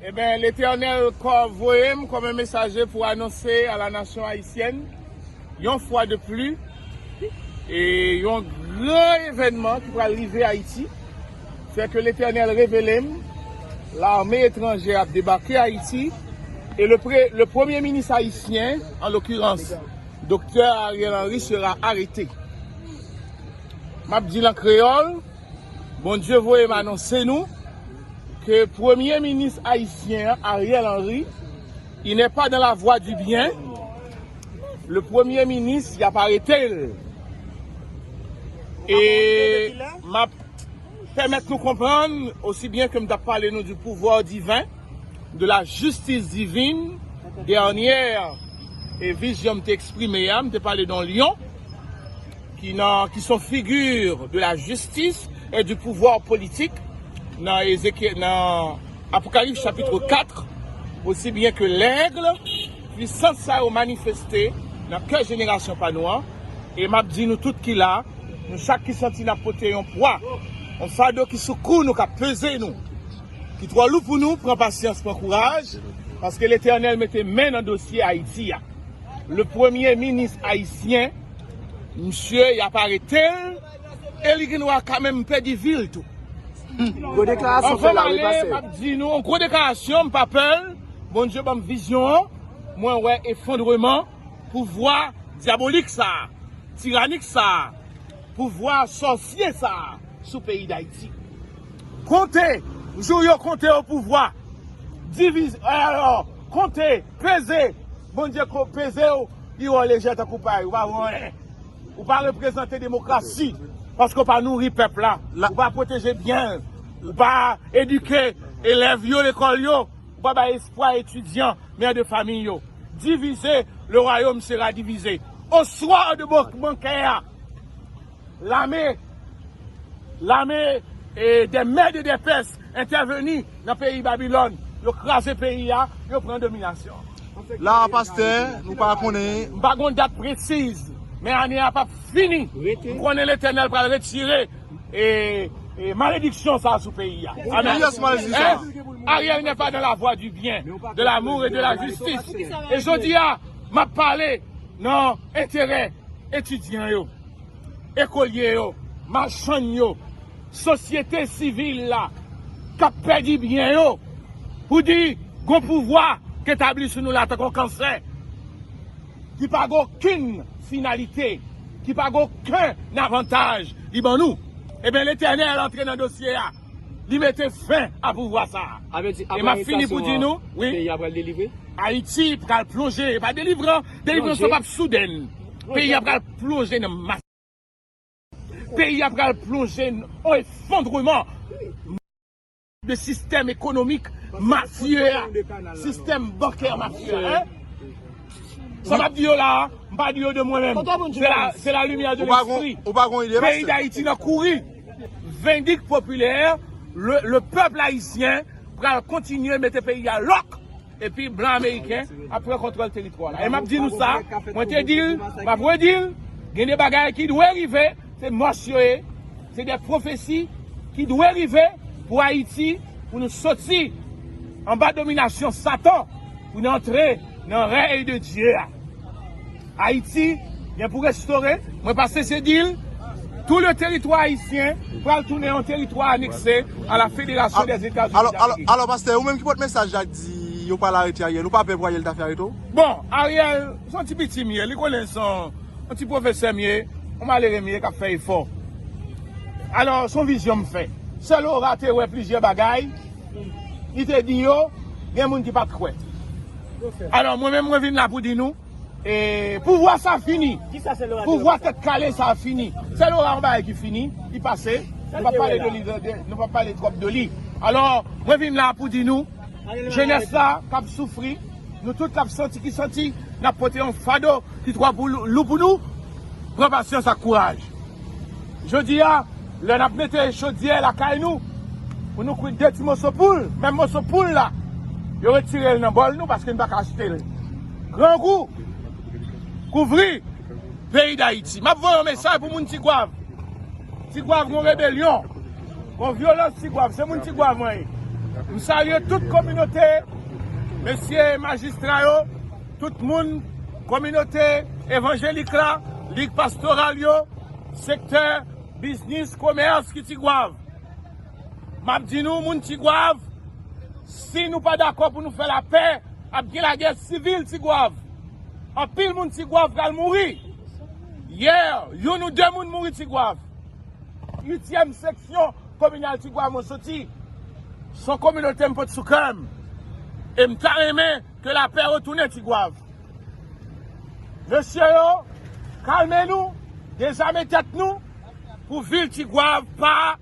Eben Letènèl kò voye m kòm un mesaje pou anonse a la nasyon ayisyèn yon fwa de pli e yon gran evènman ki pral rive Ayiti sè ke Letènèl revele m lame etranjè ap debake Ayiti e le pre le premye minis ayisyen an lokirans Doktè Ariel Henry sera arete m ap di l an kreyòl. Bondye voye m anonse nou ke premye minis ayisyen an Ariel Henry il n'est pas dans la voie du bien le premye minis yap arete l e map pèmèt nou konprann osi byen ke m tap pale nou du pouvoir divin de la justice divine dènyè vizyon m te eksprime a m te pale de yon lyon ki son figure de la justice et du pouvoir politique nan Apocalypse chapitre 4, aussi bien que l'aigle, puissance sa yo manifeste nan kè jenerasyon pa nou an, e m ap di nou tout ki la, nou chak ki santi n ap pote yon pwa, yon fado ki sou kou nou, k ap peze nou, ki twò lou pou nou, pran pasyans, pran kouraj, paske Letènèl mete men nan dosye Ayiti a. Le premye minis ayisyen. Misye yap aretel e li gendwa ka menm pedi vil tou. Anvan male map di nou yon gwo deklarasyon mpa pèl Bondye banm vizyon an mwen wè efondreman pouvwa dyabolik sa tiranik sa pouvwa sòsye sa sou peyi dayiti konte jou yo konte opouvwa divize konte peze Bondye ko pezew pi wè w lejè tankou pay ou pa vo anyen ou pa reprezante demokrasi paske ou pa nouri pèp la ou pa pwoteje byen l ou pa edike elèv yo lekòl yo ou pa bay espwa etidyan mè de famiy yo divize le wayom sera divize oswa de bankè a. lame lame e de mèd e de pès entèveni nan peyi babilòn yo kraze peyi a yo pran dominasyon la pastè nou pa konnen m pa gon dat presiz men ane a pap fini m konnen letènèl pral retire e e malediksyon sa sou peyi a aryèl nè pa nan la vwa di byen de lamour e de la jistis e jodi a map pale nan enterè etidyan yo. ekolye yo, machann yo, sosyete sivil la k ap pèdi byen yo pou di gon pouvwa k etabli sou nou la tankou yon kansè ki pa gen okenn finalite, ki pa gen okenn avantaj li ban nou. Ebyen Letènèl antre nan dosye a. Li mete fen a pouvwa sa a. E m ap fini pou di nou, Ayiti pral plonje, e pa delivre, delivrans lan p ap souden. Peyi a pral plonje nan masak. Peyi a pral plonje nan efondreman de sistèm ekonomik mafye a, sistèm bankè mafye a. Sa m ap di yo la a, m pa di yo de mwen menm. Se la limyè de lespri. Peyi Dayiti nan kouri. Vendik popilè, le pèpl ayisyen pral kontinye mete peyi a lòk epi blan ameriken ap pran kontwòl teritwa la. E m ap di nou sa, mwen te di l, m ap redi l, gen de bagay ki dwe rive, se mòs yo ye, se de pwofesi ki dwe rive pou Ayiti, pou nou soti anba dominasyon satan, pou n antre nan rèy de Dye a. Ayiti gen pou restore, mwen pa sese di l, tou le teritwa ayisyen pral tounen yon teritwa anekse a la Federasyon dè Etazini d'Amerik. Alò pastè, ou menm ki pot mesaj la k di yo pral arete Ariel, ou pa pè pou Ariel ta fè arete w? Bon, Ariel, se yon ti piti m ye, li konnen se yon ti pwofesè m ye, yon malere m ye k ap fè efò. Alò, se yon vizyon m fè. Sè Laura te wè plizyè bagay, li te di yo, gen moun ki pa t kwè. Alò, mwen menm mwen vin la pou di nou, E pouvwa sa fini. Pouvwa tèt kale sa fini. Sè Laura yon bagay ki fini, li pase. Nou pa pale de li, nou pa pale twòp de li. Alò, mwen vin la pou di nou, jenès la k ap soufri, nou tout k ap santi ki santi n ap pote yon fado ki twò lou pou nou, pran pasyans ak kouraj. Jodi a, lè n ap mete chodyè lakay nou, pou nou kwit de ti moso poul, menm moso poul la, yo retire l nan bòl nou paske n pa ka achte l. Grangou kouvri peyi dayiti. Map voye yon mesaj pou moun tigwav. Tigwav gon rebelyon. Gon vyolans tigwav. Se moun tigwav mwen ye. M salye tout kominote mesye majistra yo. Tout moun kominote evanjelik la. Lig pastoral yo. Sektè biznis komès ki tigwav. Map di nou moun tigwav si nou pa dakò pou nou fè lapè ap gen lagè sivil tigwav anpil moun tigwav pral mouri yè youn ou 2 moun mouri tigwav uityèm seksyon kominal tigwav mwen soti son kominote m pot sou kèm em ta renmen ke lapè retounen tigwav mesye yo kalme nou dezame tèt nou pou vil tigwav pa.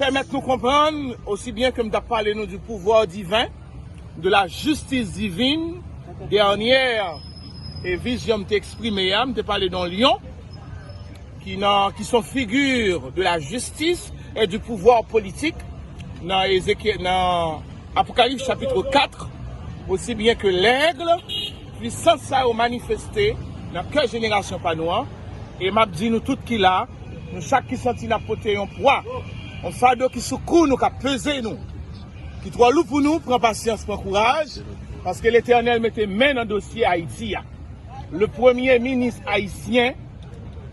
pèmèt nou konprann osi byen ke m t ap pale nou di pouvwa diven, de la justice divine, dènyè vizyon m te eksprime a, m te pale don lyon ki nan, ki s on figi de la justice et du pouvoir politique nan Ezekyè, nan Apokalips chapitre 4, osi byen ke l'aigle, pwisans sa yo manifeste nan kè jenerasyon pa nou an. E m ap di nou tout ki la, nou chak ki santi n ap pote yon pwa, yon fado ki sou kou nou, k ap peze nou, ki twò lou pou nou, pran pasyans, pran kouraj, paske Letènèl mete men nan dosye Ayiti a. Le premye minis ayisyen,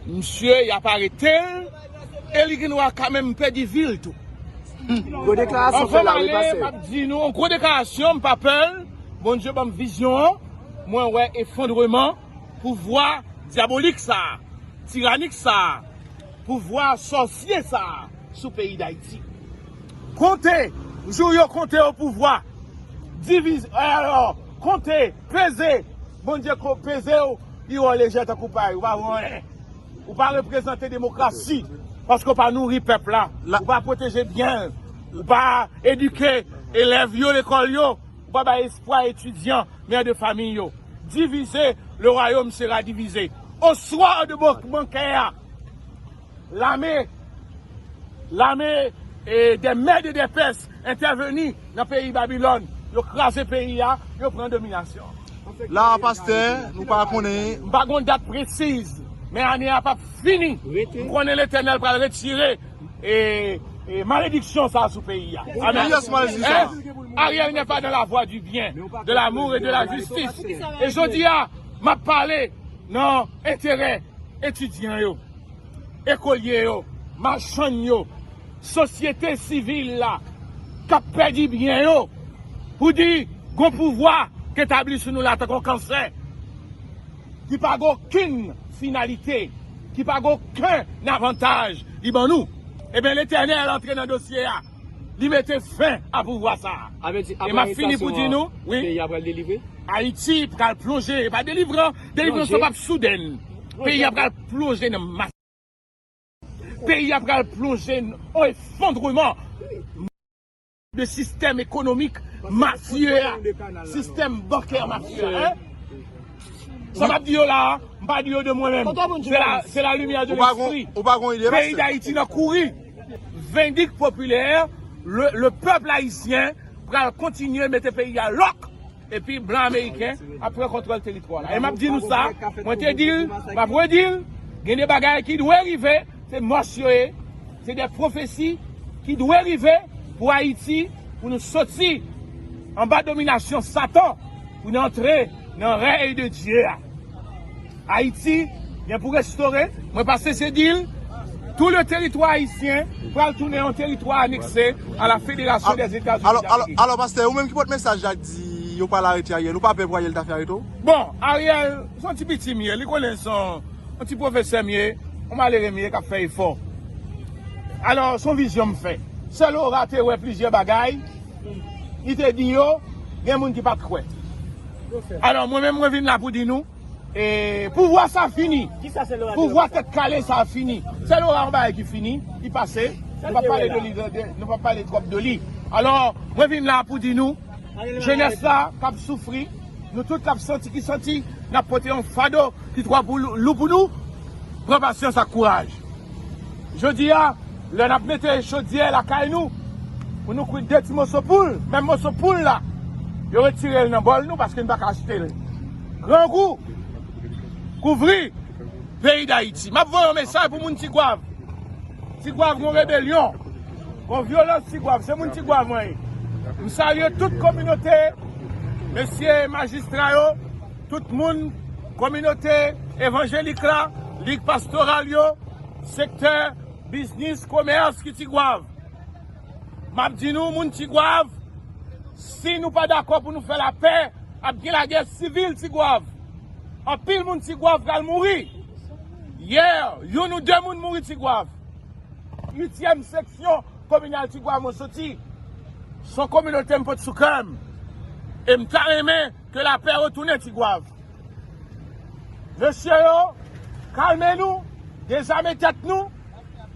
msye y ap arete l e li gen dwa ka menm pèdi vi l tou. Anvan m ale, m ap di nou, gwo deklarasyon, m pa pè l, Bondye ban m vizyon an, mwen wè efondreman. Pouvwa dyabolik sa a, tiranik sa a, pouvwa sòsye sa a sou peyi Dayiti. Konte, jou yo konte opouvwa, diviz, alò, konte, peze, Bondye ko peze w, pi wè w lejè tankou pay, ou pa vo anyen. Ou pa reprezante demokrasi, paske w pa nouri pèp la, ou pa pwoteje byen l, ou pa edike elèv yo lekòl yo, Ou pa bay espwa etidyan, mère de famille yo. Diviser, le royaume sera divisé. Au soir de bankè a, lame, lame des mèd et des pès entèveni nan peyi Babilòn. Yo kraze peyi a, yo pran dominasyon. La a pastè, nou pa konnen. M pa gon dat presiz, men ane a pap fini. M konnen Letènèl pral retire. Malediksyon sa sou peyi a. Ariel n'est pas dans la voie du bien, de l'amour et de la justice. E jodi a map pale nan enterè etidyan yo, ekolye yo, machann yo, sosyete sivil la kap pèdi byen yo pou di gon pouvwa k etabli sou nou la tankou kansè. ki pa gen okenn finalite, ki pa gen okenn avantaj li ban nou, eben Letènèl antre nan dosye a, li mete fen a pouvwa sa a. E m ap fini pou di nou, wi, Ayiti pral plonje, e pa delivran, delivrans lan p ap soudèn, peyi a pral plonje nan masak, peyi a pral plonje nan efondreman. de sistèm ekonomik mafye a, sistèm bankè mafye a, hein! Sa m ap di yo la a, m pa di yo de mwen menm, se la limyè de lespri. Peyi Dayiti nan kouri! Vendik popilè, le pèp ayisyen pral kontinye mete peyi a lòk! Epi blan ameriken ap pran kontwòl teritwa la. E map di nou sa, mwen te dil, map redil, gen de bagay ki dwe rive, se mòs yo ye, se de pwofesi ki dwe rive pou Ayiti, pou nou soti anba dominasyon satan, pou n antre nan rèy de Dye a. Ayiti gen pou restore, mwen pa sese di l, tou le teritwa ayisyen pral tounen yon teritwa anekse a la Federasyon dè Etazini d'Amerik. Alò pastè, ou menm ki pot mesaj la k di yo pral arete Ariel, ou pa pè pou Ariel ta fè arete w? Bon, Ariel, se yon ti piti m ye, li konnen se yon ti pwofesè m ye, yon malere m ye k ap fè efò. Alò, se yon vizyon m fè. Sè Laura te wè plizyè bagay, li te di yo, gen moun ki pa t kwè. Alò, mwen menm mwen vin la pou di nou. E pouvwa sa fini. Pouvwa tèt kale sa fini. Sè Laura yon bagay ki fini, ki pase. Nou pa pale twòp de li. Alò, mwen vin la pou di nou, jenès la k ap soufri, nou tout k ap santi ki santi n ap pote yon fado ki twò lou pou nou, pran pasyans ak kouraj. Jodi a, lè n ap mete chodyè lakay nou, pou nou kwit de ti moso poul, menm moso poul la, yo retire l nan bòl nou paske n pa ka achte l. Grangou kouvri peyi dayiti. Map voye yon mesaj pou moun tigwav. Tigwav gon rebelyon. Gon vyolans tigwav. Se moun tigwav mwen ye. M salye tout kominote mesye majistra yo. Tout moun kominote evanjelik la. Lig pastoral yo. Sektè biznis komès ki tigwav. Map di nou moun tigwav si nou pa dakò pou nou fè lapè ap gen lagè sivil tigwav anpil moun tigwav pral mouri yè youn ou 2 moun mouri tigwav. Uityèm seksyon kominal tigwav mwen soti son kominote m pot sou kèm e m ta renmen ke lapè retounen tigwav mesye yo kalme nou dezame tèt nou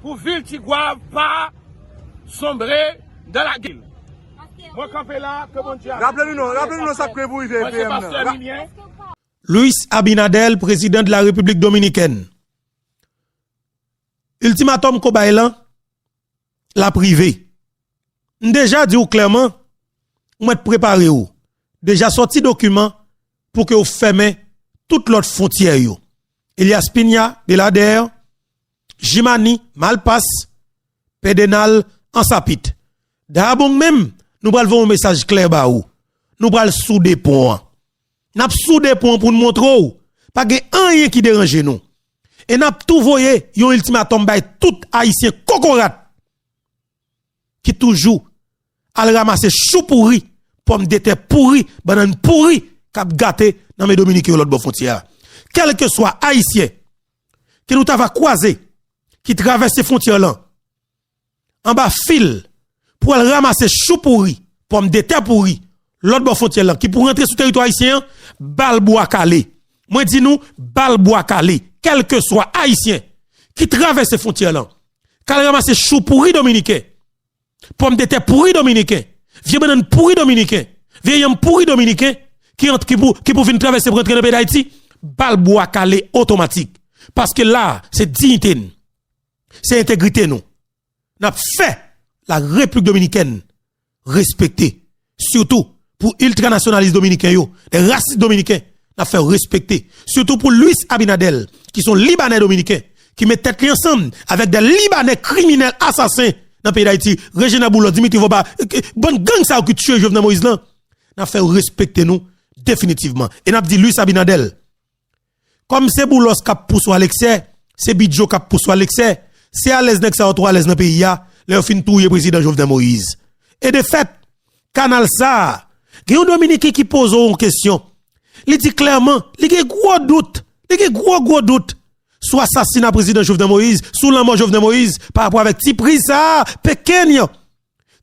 pou vil tigwav pa Sombre dans la guerre. Mwen kanpe la ke Bondye avèm. Raple nou non, raple nou non sak pre pou rive PM nan. Luis Abinader, prezidan de la Repiblik Dominikèn. Ultimatum ko bay lan, lap rive. M deja di ou klèman, ou mèt prepare ou. Deja sòti dokiman pou ke ou fèmen tout lòt fontyè yo. Elias Piña, Belader. Jimani, Malpas, Pedenal, Ansapit. Daabong menm, nou pral voye yon mesaj klè ba ou. Nou pral soude pon an. N ap soude pon an pou n montre w pa gen anyen ki deranje nou. E n ap tou voye yon iltimatòm bay tout Ayisyen kokorat. ki toujou al ramase chou pouri, pòmdetè pouri, bannann pouri k ap gate nan men dominiken yo lòtbò fwontyè a. Kèlkeswa ayisyen ke nou ta va kwaze ki travèse fwontyè lan anba fil pou al ramase chou pouri, pòmdetè pouri, lòt bò fontyè lan ki pou rantre sou teritwa ayisyen an, bal bwa kale. Mwen di nou, bal bwa kale. Kèlkeswa ayisyen ki travèse fontyè lan, k al ranmase chou pouri dominiken, pòmdetè pouri dominiken, vye bannann pouri dominiken, vye yanm pouri dominiken ki pou vin travèse pou rantre nan peyi dayiti, bal bwa kale otomatik. Paske la a, se diyite n, se entegrite nou. Nap fè la replik dominikèn respekte sitou pou iltra nasyonalis dominiken yo de rasis dominiken nap fèw respekte sitou pou Luis Abinadel ki son libanè dominiken ki met tèt li ansanm avèk de libanè kriminèl asasen nan peyi dayiti Regina Boulò Dimitri Voba bann gang sa yo ki tiye Jovenel Moïse lan nap fèw respekte nou definitivman e nap di Luis Abinadel Kòm se Boulos kap pouse w a leksè, se Bidjo kap pouse w a leksè, se alèz nèg sa yo twò alèz nan peyi a, lè yo fin touye prezidan Jovenel Moïse. E de fèt, kanal sa a, gen yon dominiken ki poze w yon kesyon, li di klèman, li gen gwo dout, li gen gwo gwo dout, sou asasina prezidan Jovenel Moïse, sou lanmò Jovenel Moïse, pa rapò avèk ti priz sa a, pekeny,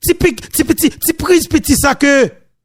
ti pik, ti piti, ti priz piti sa ke.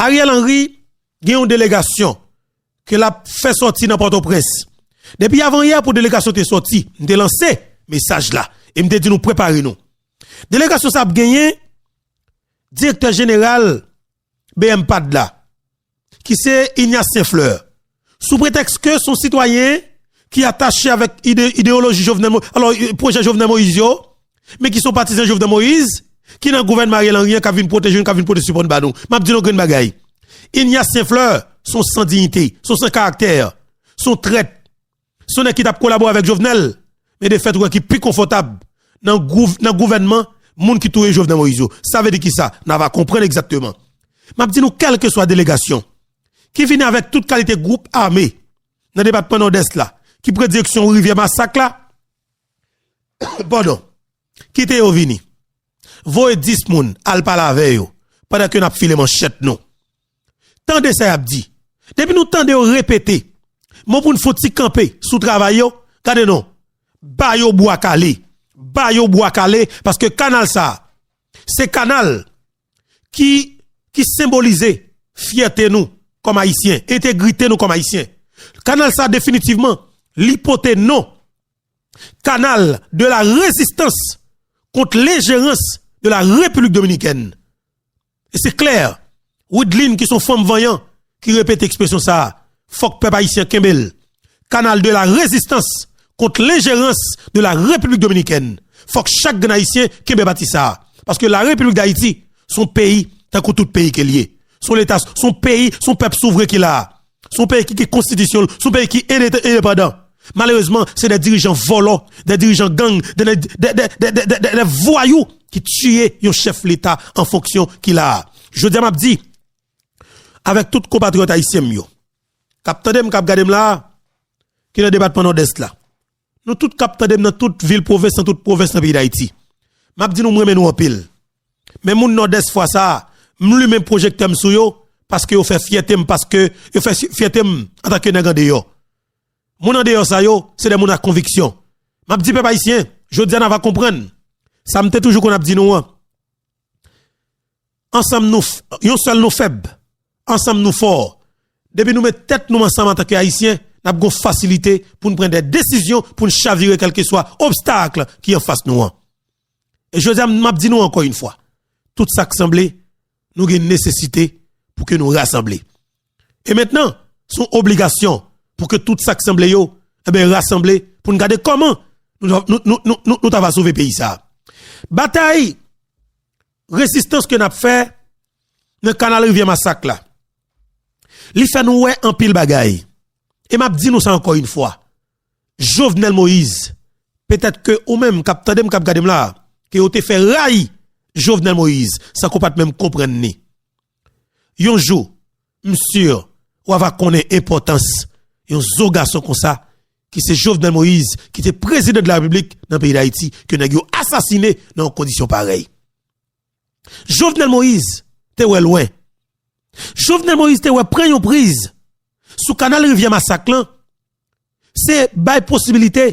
Ariel Henry gen yon delegasyon ke l ap fè sòti nan Pòtoprens. Depi avanyè pou delegasyon te sòti, m te lanse mesaj la e m te di nou prepare nou. Delegasyon sa ap genyen direktè jeneral bmpad la ki se Ignace St-Fleur, sou pretèks ke son sitwayen ki atache avèk idewoloji Jovenel Moïse, alò pwojè Jovenel Moïse yo, men ki son patizan Jovenel Moïse, ki nan gouvènman Ariel Henry an kap vin pwoteje nou, kap vin pote sipò n ba nou. Map di nou yon grenn bagay, Ignace St-Fleur son san dignite, son san karaktè, son trèt. Son nèg ki tap kolabore avèk Jovenel men de fèt wè ki pi konfòtab nan gouvènman moun ki touye Jovenel Moïse yo. Sa vle di kisa? Nan va konprann egzakteman. Map di nou kèlkeswa delegasyon ki vini avèk tout kalite gwoup ame nan depatman Nòdès la ki pran direksyon rivyè masak la, padon, kite yo vini. Voye 10 moun al pale avè yo pandan ke nap file manchèt nou. Tande sa yap di. Depi nou tande yo repete mo pou n fout ti kanpe sou travay yo, gade non. Ba yo bwa kale. Ba yo bwa kale paske kanal sa a se kanal ki ki senbolize fyète nou kòm ayisyen, entegrite nou kòm ayisyen. Kanal sa definitivman li pote non kanal de la rezistans kont lenjerans de la Repiblik Dominikèn. E se klè, Wideline ki son fanm vanyan ki repete ekspresyon sa a, fòk pèp ayisyen kenbe l, kanal de la rezistans kont lenjerans de la Repiblik Dominikèn. Fòk chak grenn ayisyen kenbe pati sa a. Paske la Repiblik Dayiti son peyi tankou tout peyi ke l ye. Son leta, son peyi, son pèp souvren ki la a. Se yon peyi ki gen konstitisyon l, se yon peyi ki endepandan. Malerezman, se de dirijan vòlò, de dirijan gang, de vwayou ki tiye yon chèf leta an fonksyon ki la a. Jodi a m ap di, avèk tout konpatriyòt ayisyen m yo, k ap tande m, k ap gade m la a, ki nan depatman Nòdès la, Nou tout kap tandem nan tout vil pwovens nan tout pwovens nan peyi dayiti map di nou m renmen nou anpil men moun nòdès fwa sa m limen pwojektè m sou yo paske yo fè fyète m paske yo fè fyète m antanke nèg andeyò moun andeyò sa yo se de moun a konviksyon map di pèp ayisyen jodi a na va konprann sa m te toujou konn ap di nou an. Ansanm nou yon sèl nou fèb, ansanm nou fò. Depi nou met tèt nou ansanm antanke Ayisyen, n ap gon fasilite pou n pran dè desizyon pou n chavire kèlkeswa obstakl ki anfas nou an. E jodi a m ap di nou ankò yon fwa, tout sa k sanble, nou gen nesesite pou ke nou rasanble. E mentnan, se yon obligasyon pou ke tout sa k sanble yo rasanble pou n gade kòman nou ta va sove peyi sa a. Batay rezistans ke n ap fè nan kanal rivyè masak la, li fè nou wè anpil bagay. E m ap di nou sa ankò yon fwa, Jovenel Moïse, petèt ke ou menm k ap tande m, k ap gade m la a, ke yo te fè rayi Jovenel Moïse san ke w pa t menm konprann ni. Yon jou m sur wa va konnen enpòtans yon zo gason konsa ki se Jovenel Moïse ki te prezidan de la République nan peyi d'Haïti ke nèg yo asasine nan yon kondisyon parèy. Jovenel Moïse te wè lwen. Jovenel Moïse te wè pran yon priz sou kanal rivyè masak lan se bay posibilite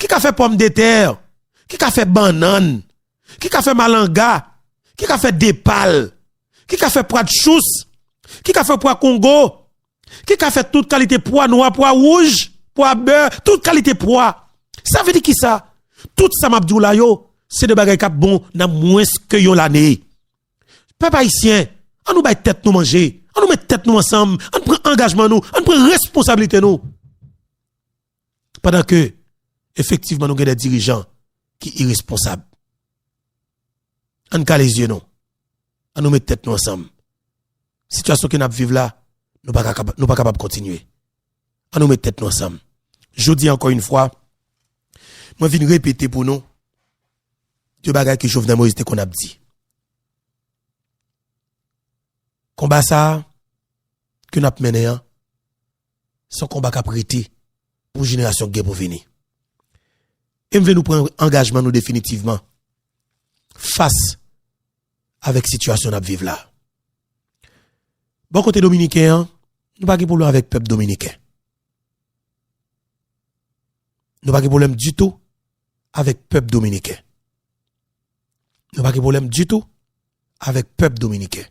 ki ka fè pòm de tè, ki ka fè bannann, ki ka fè malanga, ki ka fè depal, ki ka fè pwa dchous, ki ka fè pwa kongo, ki ka fè tout kalite pwa nwa, pwa wouj, pwa bè, tout kalite pwa. Sa vle di ki sa? Tout sa map di w la yo, se de bagay kap bon nan mwens ke yon lane. Pèp ayisyen, an nou bay tèt nou manje, an nou met tèt nou ansanm, an pran angajman nou, an pran responsabilite nou. pandan ke efektivman nou gen de dirijan ki iresponsab. An n kale zye nou, an nou met tèt nou ansanm. Sitiyasyon ke n ap viv la, nou pa kapab kontinye. An nou met tèt nou ansanm. Jodi ankò yon fwa, mwen vin repete pou nou de bagay ke Jovenel Moïse te konn ap di. Konba sa a ke n ap mennen an, Se yon konba k ap rete pou jenerasyon k gen pou vini. E m vle nou pran angajman nou definitivman fas avèk sitiyasyon n ap viv la. Bò kote dominiken an, nou pa gen pwoblèm avèk pèp dominiken. Nou pa gen pwoblèm ditou avèk pèp dominiken. Nou pa gen pwoblèm ditou avèk pèp dominiken.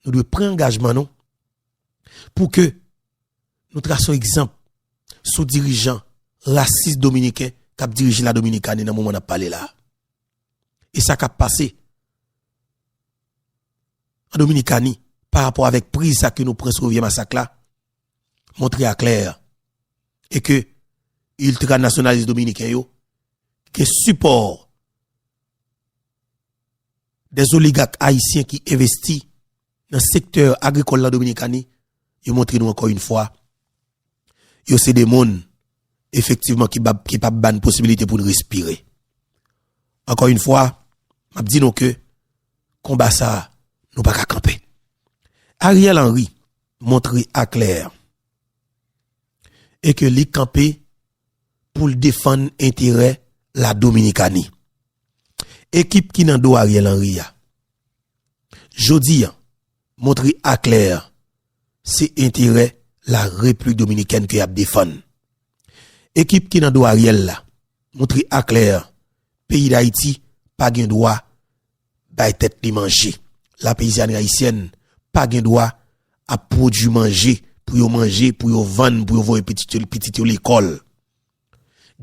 Nou dwe pran angajman nou. pou ke nou trase yon egzanp sou dirijan rasis dominiken k ap dirije la Dominikani nan moman n ap pale la a. E sa k ap pase an Dominikani parapò avèk priz sa ke nou pran sou Rivyè Masak la montre a klè e ke iltranasyonalis dominiken yo gen sipò dèzoligak ayisyen ki envesti nan sektè agrikòl nan Dominikani, yo montre nou ankò yn fwa, yo se de moun efektivman ki pap bann posibilite poun respire. Ankò yn fwa, map di nou ke konba sa a, nou paka kanpe. Ariel Henry montre aklè, e ke li kanpe poul defann enterè la Dominikani. Ekip ki nan do Ariel Henry a, jodi an montre aklè se enterè la Replik Dominikèn ke yap defann. Ekip ki nan do Ariel la montre aklè peyi Dayiti pa gen dwa bay tèt li manje, la peyizanri ayisyèn pa gen dwa ap pwodui manje pou yo manje, pou yo vann, pou yo voye pitit yo lekòl.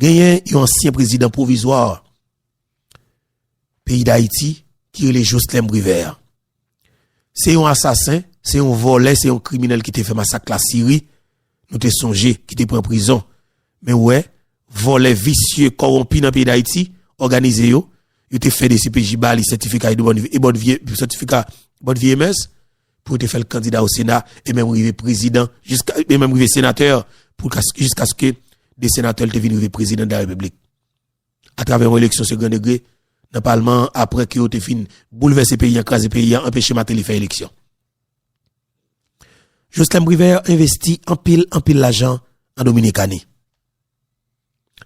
Genyen yon ansyen prezidan pwovizwa peyi dayiti ki rele Joslèm Privert se yon asasen se yon vòlè se yon kriminèl ki te fè masak la siri nou te sonje ki te pran prizon men wè vòlè visye kòwonpi nan peyi dayiti òganize yo yo te fè dcpj ba li sètifika sètifika bòn vye mès pou te fèl kandida o sena e menm rive prezidan e menm rive senatè jiskaske de senatèl te vin rive prezidan de la repiblik atravè yon eleksyon segran degre nan palman an apre ke yo te fin boulvèse peyi an, kraze peyi an, anpeche Mateli fè eleksyon. Joslèm Privert envesti anpil anpil lajan an Dominikani.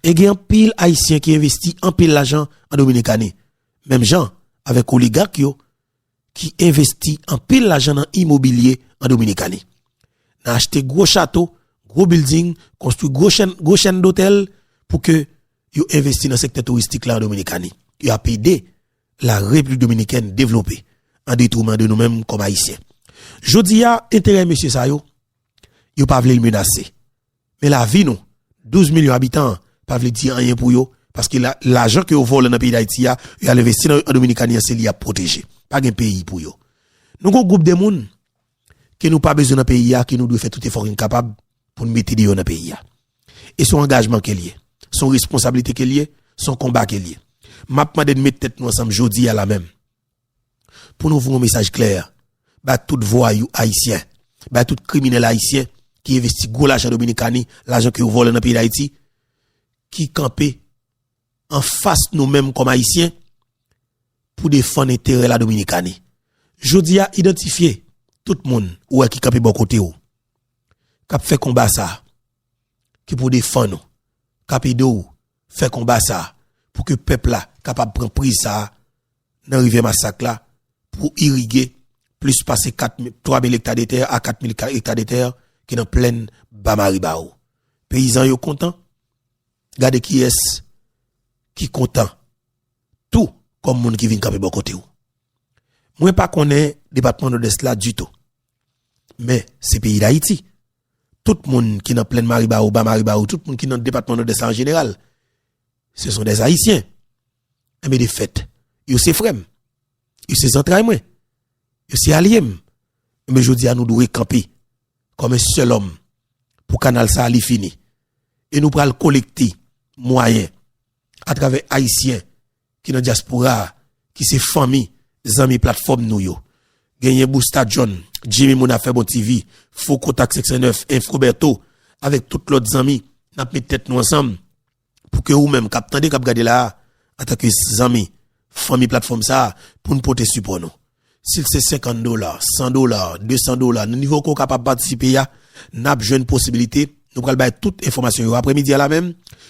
E gen anpil Ayisyen ki envesti anpil lajan an Dominikani. Menm jan avèk oligak yo. ki envesti anpil lajan nan imobilye an Dominikani, nan achte gwo chato, gwo bilding, konstwi gwo chèn dotèl pou ke yo envesti nan sektè touristik la an Dominikani. Yo ap ede la Repiblik Dominikèn devlope an detrouman de nou menm kòm Ayisyen. Jodi a, enterè mesye sa yo, yo pa vle l menase. Men la vie nou 12 millions habitan pa vle di anyen pou yo paske lajan ke yo vòlè nan peyi dayiti a yo al envesti nan dominikani an se li yap pwoteje pa gen peyi pou yo nou gon gwoup de moun ke nou pa bezwen nan peyi a ke nou dwe fè tout efò ke nou kapab pou nou mete deyò nan peyi a e son angajman ke liye son responsabilite ke liye son konba ke liye map mande nou met tèt nou ansanm jodi a la menm Pou nou voye yon mesaj klè bay tout vwayou ayisyen, bay tout kriminèl ayisyen ki envesti gwo lajan Dominikani, lajan ke yo vòlè nan peyi Dayiti, ki kanpe anfas nou menm kòm ayisyen pou defann enterè la Dominikani. Jodi a idantifye tout moun ou wè ki kanpe bò kote ou, kap fè konba sa, ki pou defann ou, kap ede ou fè konba sa pou ke pèp la kapab pran priz sa nan rivyè masak la pou irige plis pase 3000 ekta de tè a 4000 ekta de tè ki nan plèn ba maribao peyizan yo kontan gade kiyès ki kontan tou kòm moun ki vin kanpe bò kote ou mwen pa konnen depatman nodès la ditou men se peyi dayiti tout moun ki nan plèn Maribawou, Ba Maribawou, tout moun ki nan depatman Nòdès la an jeneral, se son dè Ayisyen. Enben de fèt, yo se frè m, yo se zantray mwen, yo se alye m. Enben jodi a nou dwe kanpe kòm yon sèl òm pou kanal sa a li fini. E nou pral kolekte mwayen atravè Ayisyen ki nan dyaspora a, ki se fanmi, zanmi platfòm nou yo. Genyen Busta John, Jimmy Moun Afè Bon TV, Faux Contact 509, Info Bertho, avèk tout lòt zanmi, n ap met tèt nou ansanm pou ke ou menm k ap tande, k ap gade la a, antanke zanmi, fanmi platfòm sa a, pou n pote sipò nou. Si l se 50 dola, 100 dola, 200 dola, nan nivo ke w kapab patisipe ya, n ap jwenn posibilite, nou pral bay tout enfòmasyon yo apre midi a la menm,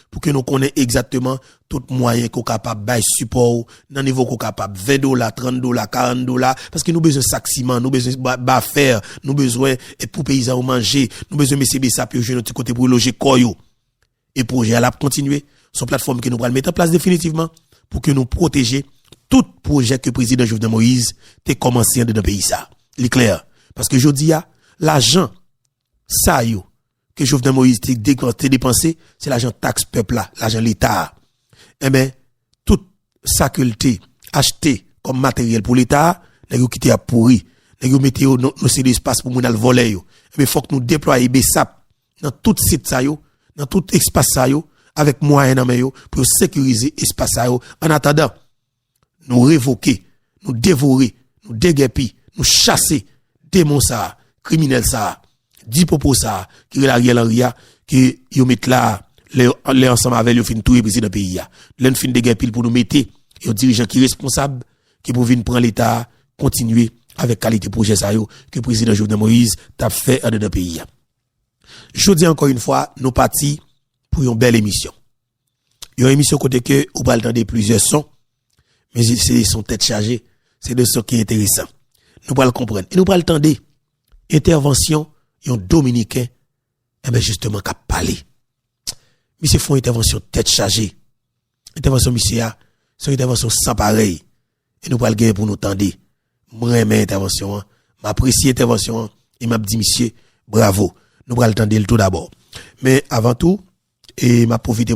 pou ke nou konnen egzakteman tout mwayen ke w kapab bay sipò w nan nivo ke w kapab, 20 dola, 30 dola, 40 dola, paske nou bezwen sak siman, nou bezwen bafè, nou bezwen pou peyizan yo manje, nou bezwen mesye besap yo jwenn yon ti kote pou yo loje kò yo. E pwojè a la ap kontinye. Son platfòm ke nou pral mete an plas definitivman pou ke nou pwoteje tout pwojè ke Prezidan Jovenel Moïse te kòmanse andedan peyi sa. Li klè, paske jodi a, lajan sa yo ke Jovenel Moïse te depanse, se lajan taks pèp la, lajan leta a. Enben, tout sa ke li te achte kòm materyèl pou leta a, nèg yo kite ap pouri. Nèg yo mete yo nan seri de espas pou moun al vòlè yo. Enben, fòk nou deplwaye besap nan tout sit sa yo, nan tout espas sa yo, avèk mwayen nan men yo pou yo sekirize espas sa yo annatandan nou revoke, nou devore, nou degèpi, nou chase demon sa a, kriminèl sa a, dipopo sa a ki rele Ariel Henry a ke yo met la a lè ansanm avè l yo fin touye prezidan peyi a. Lè n fin degèpi l pou nou mete yon dirijan ki responsab ki pou vin pran leta a kontinye avèk kalite pwojè sa yo ke prezidan Jovenel Moïse t ap fè andedan peyi a. Jodi ankò yn fwa nou pati pou yon bèl emisyon. Yon emisyon kote ke ou pral tande plizyè son, men se de son tèt chaje, se de son ki enteresan. Nou pral konprann e nou pral tande entèvansyon yon dominiken enben jisteman kap pale. Misye fon entèvansyon tèt chaje. Entèvansyon misye a, se yon entèvansyon san parèy e nou pral genyen pou nou tande. M renmen entèvansyon an, m apresye entèvansyon an e m ap di misye bravo. Nou pral tande l tou dabò. Men avan tou, e m ap pwofite.